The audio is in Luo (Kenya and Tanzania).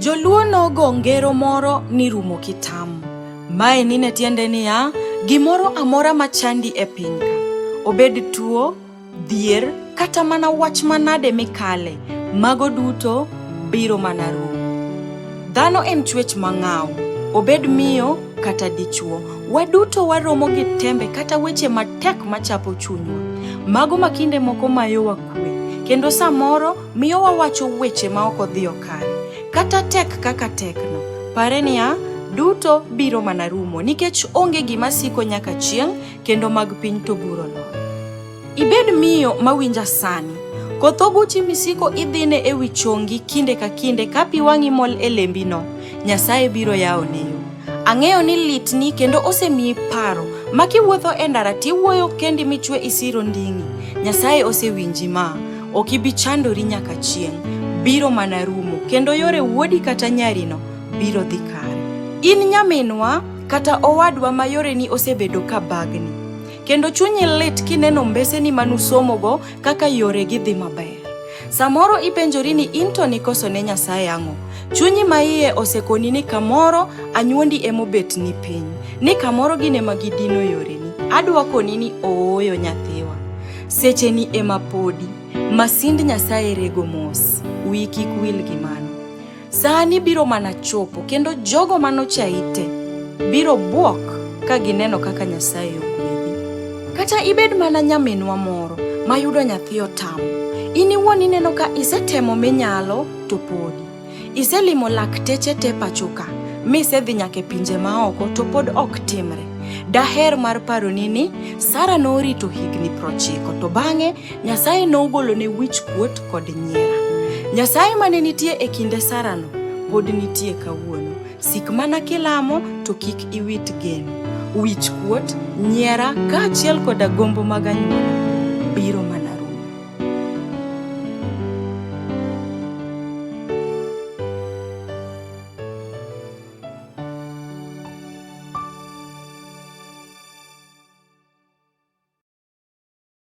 Joluo nogo ngero moro ni rumo kitamu. Mae nine tiende niya, gimoro amora machandi e pinyka, obed tuo, Dhier kata mana wach manade mikale, mago duto biro mana rumo. Dhano en chwech mang'aw, obed miyo kata dichwo. Waduto waromo gi tembe kata weche matek machapo chunywa. Mago ma kinde moko mayowa kwe, kendo samoro miyo wawacho weche ma ok odhiyo kare. Kata tek kaka tekno, pare niya, duto biro mana rumo nikech onge gima siko nyaka chieng' kendo mag piny to buro nono. Ibed miyo mawinja sani. Koth oguchi misiko idhine e wi chongi kinde ka kinde ka pi wang'i mol e lembino, Nyasaye biro yawo ne yo. Ang'eyo ni litni kendo osemiyi paro ma kiwuotho e ndara tiwuoyo kendi michwe isiro nding'i. Nyasaye osewinji ma, ok ibi chandori nyaka chieng', biro mana rumo kendo yore wuodi kata nyarino biro dhi kare. In nyaminwa kata owadwa ma yoreni osebedo ka bagni, kendo chunyi lit kineno mbeseni ma nusomogo kaka yoregi dhi maber. Samoro ipenjori ni in to nikoso ne Nyasaye ang'o? Chunyi ma iye osekoni ni kamoro anyuondi emobet ni piny, ni kamoro gin ema gidino yoreni. Adwa koni ni ooyo nyathiwa, secheni ema podi, masind Nyasaye rego mos. Wiyi kik wil gi mano. Sani biro mana chopo kendo jogo manochayi te biro bwok ka gineno kaka Nyasaye ogwedhi. Kata ibed mana nyaminwa moro mayudo nyathi otamo, in iwuon ineno ka isetemo minyalo to podi. Iselimo lakteche te pachoka, misedhi nyaka e pinje maoko to pod ok timre. Daher mar paroni ni Sara norito higni prochiko to bang'e Nyasaye nogolone wich kuot kod nyiera. Nyasaye mane nitie e kinde Sarano pod nitie kawuono. Sik mana kilamo to kik iwit geno. Wich kuot, nyiera kaachiel koda gombo mag anyuola biro mana rumo.